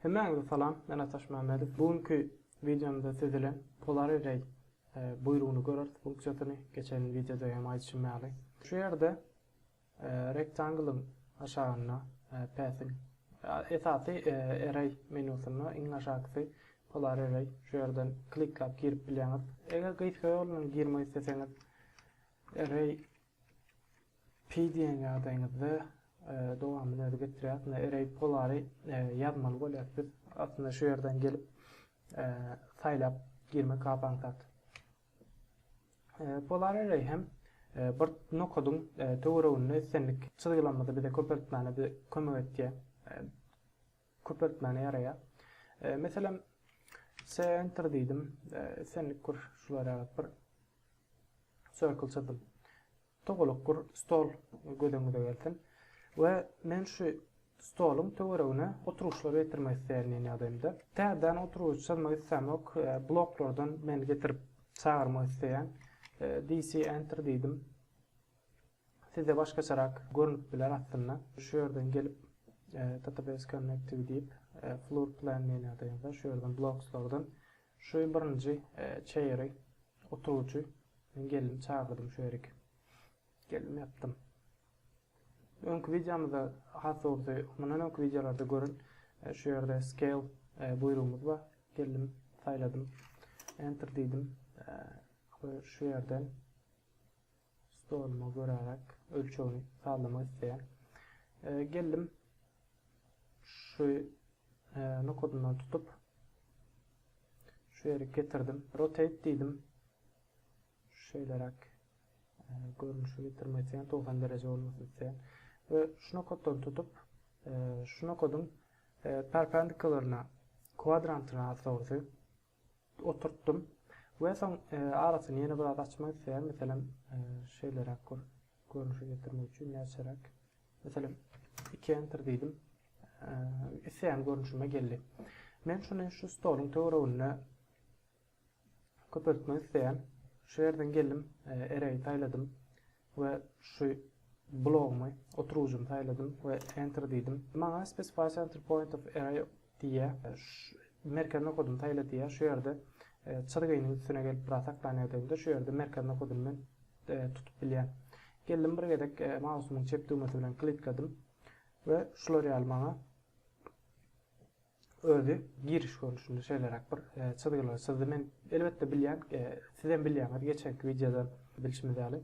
Hemmäňize salam, men Ataş Mämmedow. Bu günki wideomda siz bilen Polar Array e, buýrugyny görüris, funksiýasyny. Geçen wideoda hem aýdyşym ýaly. Şu ýerde e, rektanglyň aşagynda e, Pathiň esasy Array menýusynda iň aşakysy Polar Array. Şu ýerden kliklap girip bilýäňiz. Eger gysga ýol bilen girmek isleseňiz Array Pi diýen ýagdaýyňyzda dowamyny özi getirýär. Ine array polary ýazmaly bolýar. Biz aslynda şu ýerden gelip saýlap girmek apansat. Polar array hem bir nokadyň töwereginde islendik çyzgylarymyzy bize köpeltmäne kömek etýär. köpeltmäne ýaraýar. Meselem, center diýdim, senlik kur şulara ýagyp bir circle çyzdym. Togalak kur stol göz öňüňize gelsin. We men şu stoluň töweregine oturyşlar getirmek isleýän diýen ýagdaýymda. Täzeden oturyş çyzmak islämok, bloklardan men getirip çagyrmak isleýän. DC enter diýdim. Sizde başgaçarak görnüp biler aslynda. Şu ýerden gelip Database Connective diýip Floor Plan menu-da ýa-da şu ýerden Blocks-lardan şu birinji Chair-i, oturgyjy, men geldim çagyrdym şu ýerik. Geldim ýapdym. Öňki wideomyzda has dogrusy mundan öňki wideolarda görün şu ýerde Scale buýrugymyz bar. Geldim saýladym. Enter diýdim. Şu ýerden Stolumy göräýerek, ölçegini sazlamak isleýän. Geldim. Şu nokadyndan tutup şu ýere getirdim. Rotate diýdim. Şeýleräk görnüşi getirmek isleýän 90 dereje bolmasyn isleýän. We şu nokatdan tutup şu nokadyň perpendikularyna kwadrantyna az dogrusy oturtdym we soň arasyny ýene biraz açmak isleýän, meselem, şeýleräk bir görnüşe getirmek üçin näçeräk, meselem, iki enter diýdim, isleýän görnüşime geldi. Men şuny şu stoluň töwereginde köpeltmek isleýän. Şu ýerden geldim, array saýladym. we şu blogymy oturgyjymy saýladym we enter diýdim. Maňa specify center point of array diýýär. Merkez nokadyny saýla diýýär. Şu ýerde çyzgynyň üstüne gelip biraz saklanýar degimde şu ýerde merkez nokadyny men tutup bilýän. Geldim bir gezek mausumyň çep düwmesi bilen klikledym we şular ýaly maňa Özi giriş görnüşinde şeýleräk bir çyzgylar çyzdy. Men elbetde bilýän, sizem bilýäňiz geçenki wideodan bilşimiz ýaly,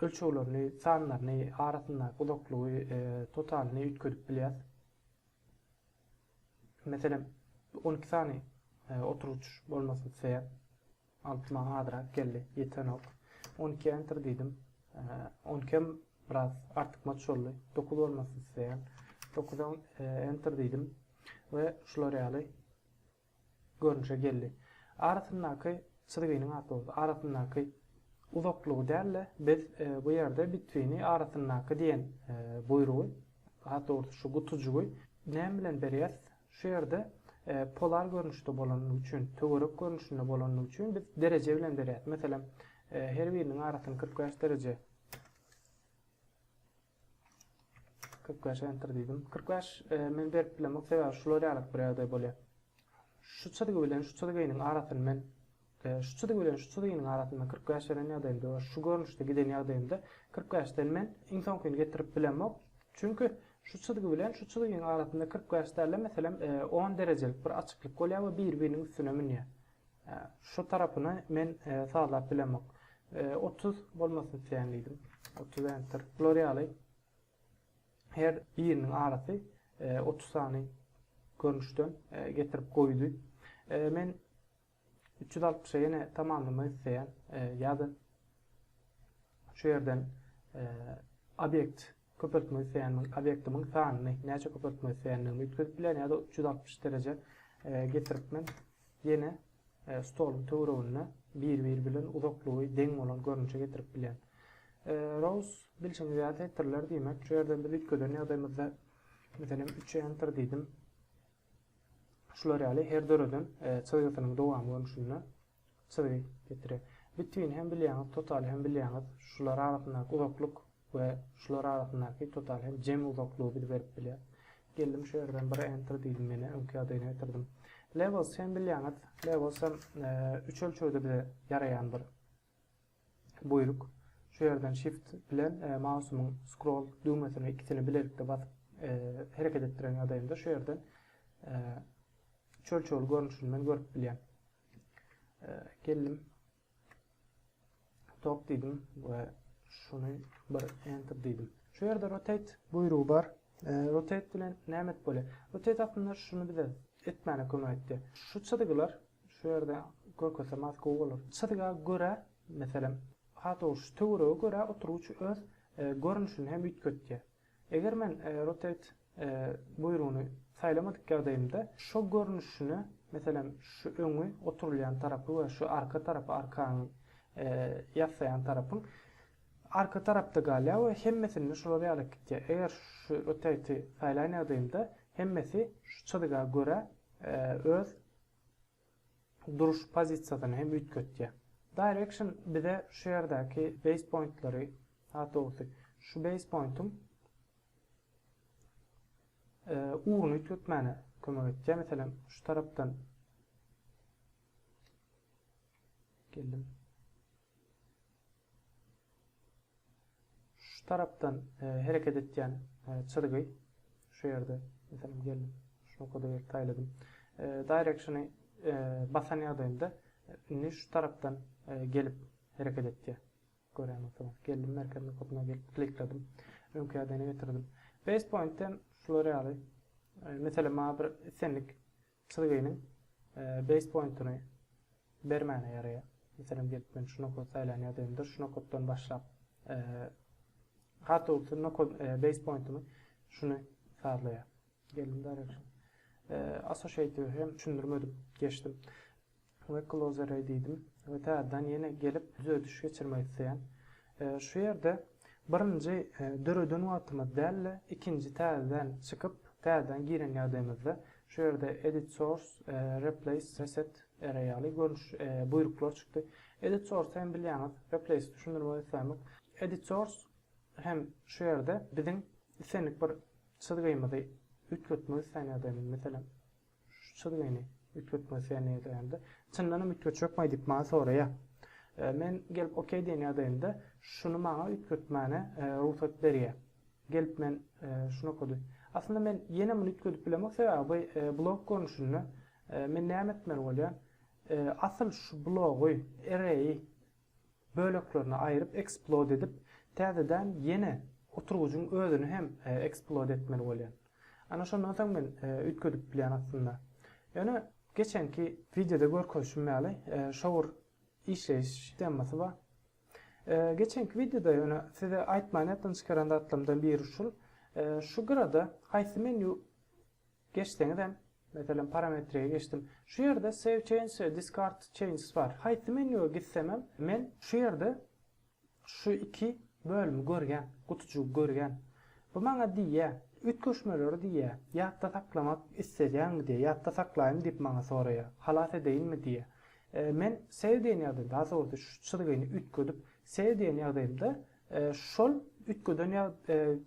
ölçeglerini, sanlaryny, arasyndaky uzaklygy, totalyny üýtgedip bilýäs. Meselem, on iki sany oturgyç bolmasyn isleýän. Altyma azrak geldi, ýetenok. On iki enter diýdim. On ikem biraz artykmaç boldy. Dokuz bolmasyn isleýän. Dokuza enter diýdim we şular ýaly görnüşe geldi. Arasyndaky çyzgynyň ady boldy. Arasyndaky uzaklygy däl-de, biz bu ýerde bitwini arasyndaky diýen buýrugy, hat dogrusy şu gutujygy näme bilen berýäs? Şu ýerde polar görnüşde bolandygy üçin, töwerek görnüşinde bolandygy üçin biz dereje bilen berýäris. Meselem, her biriniň arasyny kyrk bäş dereje, kyrk bäş enter diýdim. Kyrk bäş men berip bilemok, sebäbi şular ýalyk bir ýagdaý bolýar. Şu çyzgy bilen şu çyzgynyň arasyny men Şu çyzy bilen şu çyzynyň arasynda kyrk bäş beren ýagdaýymda we şu görnüşde giden ýagdaýymda kyrk bäşden men iň soňkyny getirip bilemok. Çünki şu çyzgy bilen şu çyzynyň arasynda kyrk bäş däl-de, meselem, on derejelik bir açyklyk bolýar we biri-biriniň üstüne münýär. Şu tarapyny men sazlap bilemok. Otuz bolmasyn isleýän diýdim. Otuz enter. Bular ýaly her biriniň arasy otuz sany görnüşden getirip goýdy. Men Üç ýüz altmyşa ýene tamamlamak isleýän ýa-da şu ýerden obýekt köpeltmek isleýän obýektimiň sanyny näçe köpeltmek isleýändigimi üýtgedip bilen ýa-da üç ýüz altmyş dereje getirip men ýene stoluň töwereginde bir-biri bilen uzaklygy deň bolan görnüşe getirip bilen. Rows bilşiňiz ýaly setirler diýmek şu ýerden biz üýtgeden ýagdaýymyzda meselem üçe enter diýdim. Şular ýaly her döreden çyzgysynyň dowamy görnüşinde çyzgy getirer. Bitwin hem bilýäňiz, total hem bilýäňiz. Şular arasyndaky uzaklyk we şular arasyndaky total hem jemi uzaklygy biz berip bilýär. Geldim şu ýerden bir enter diýdim menä öňki ýagdaýyna getirdim. Levels hem bilýäňiz, levels hem üç ölçegde bize ýaraýan bir Buýruk. Şu ýerden Shift bilen mausumyň scroll düwmesini ikisini bilelikde basyp hereket etdiren ýagdaýymda şu ýerden çöl-çöl görnüşini men görüp bilýän. Geldim. Top diýdim we şuny bir enter diýdim. Şu ýerde rotate buýrugy bar. Rotate bilen näme et bolýar? Rotate aslynda şuny bize etmäne kömek etdi. Şu çyzgylar Şu ýerde görkezsem has gowy bolar. Çyzga görä, meselem, hataw şu töwerege görä oturgyç öz görnüşini hem üýtgetýär. Eger men Rotate buýrugyny saýlamadyk ýagdaýymda şo görnüşini, meselem, şu öňi oturylýan tarapy we şu arka tarapy, arkaňy ýassaýan tarapyň arka tarapda galýar we hemmesinde şular ýaly gitýär. Eger şu Rotate-i saýlan ýagdaýymda hemmesi şu çyzga görä öz duruş pozisiýasyny hem üýtgetýär. Direction bize şu ýerdäki base pointlary, daha dogrusy, şu base pointiň ugruny üýtgetmäne kömek etýär. Meselem, şu tarapdan geldim. Şu tarapdan hereket etýän çyzgy şu ýerde meselem geldim şu nokada gelip saýladym. Directiony basan ýagdaýymda indi şu tarapdan gelip hereket etýär. Görýän bolsaňyz geldim merkez nokatyna gelip klikledim. Öňki ýagdaýyna getirdim. Base pointden şular ýaly meselem maňa bir islendik Çyzgynyň base pointyny bermäne ýaraýar. Meselem gelip men şu nokat saýlan ýagdaýymda şu nokatdan başlap Hartowty nokat base pointymy şuny sazlaýar. Geldim direction. Associative hem düşündirmedik geçdim. We closereý diýdim we täzeden ýene gelip düzediş geçirmek isleýän. Şu ýerde birinji döreden wagtymyz däl-de ikinji täzeden çykyp täzeden giren ýagdaýymyzda şu ýerde edit source, replace, reset array ýaly görnüş, buýruklar çykdy. Edit source hem bilýäňiz replace düşündirmek islämok. Edit source hem şu ýerde biziň islendik bir çyzgymyzy üýtgetmek isleýän ýagdaýymyz meselem. Şu çyzgyny üýtgetme sen ýazýanda, çyndanam üýtgetjekmi diýip maňa soraýar. Men gelip ok diýen ýagdaýymda şuny maňa üýtgetmäne rugsat berýär. Gelip men şuny okady. Aslynda men ýene muny üýtgedip bilemok sebäbi bu blok görnüşinde men näme etmeli bolýan? Asyl şu blogy, array, böleklerine aýryp eksplod edip täzeden ýene oturgyjyň özüni hem eksplod etmeli bolýan. Ana şondan soň men üýtgedip bilýän aslynda. Ýöne geçenki wideoda görkezişim ýaly şowur işleýiş sstemasy bar. Geçenki wideoda ýöne size aýtman ýatdan çykaran zatlarymdan biri şul, şu gyrada haýsy menýu Geçseňizem, meselem, parametreye geçdim. Şu ýerde Save Changes we Discard Changes bar. Haýsy menýuwa gitsemem, men şu ýerde şu iki bölümi görýän, gutujygy görýän. Bu maňa diýýär, üýtgeşmeleri diýýär, ýatda saklamak isleýäňmi diýýär, ýatda saklaýynmy diýip maňa soraýar, halas edeýinmi diýýär. Men Save diýen ýagdaýymda, daha dogrusy şu çyzgyny üýtgedip Save diýen ýagdaýymda, Şol üýtgeden ýa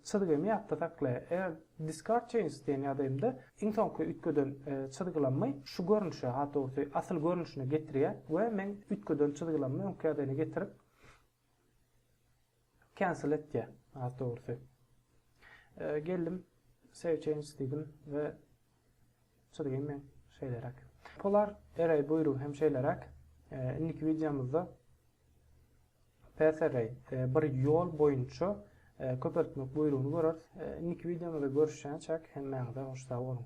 çyzgyny ýatda sakla. Eger Discard Changes diýen ýadaýymda iň soňky üýtgeden çyzgylamy şu görnüşe, hat dogrusy, asyl görnüşine getirýär we men üýtgeden çyzgylamy öňki ýadaýyna getirip Cancel etýär, hat dogrusy. Geldim, Save Changes diýdim we Çyzgym hem şeýleräk. Polar Array buýrugy hem şeýleräk. Indiki wideomyzda Path Array bir ýol boýunça köpeltmek buýrugyny göreris. Indiki wideomyzda görüşýänçäk hemmäňize hoş sag boluň.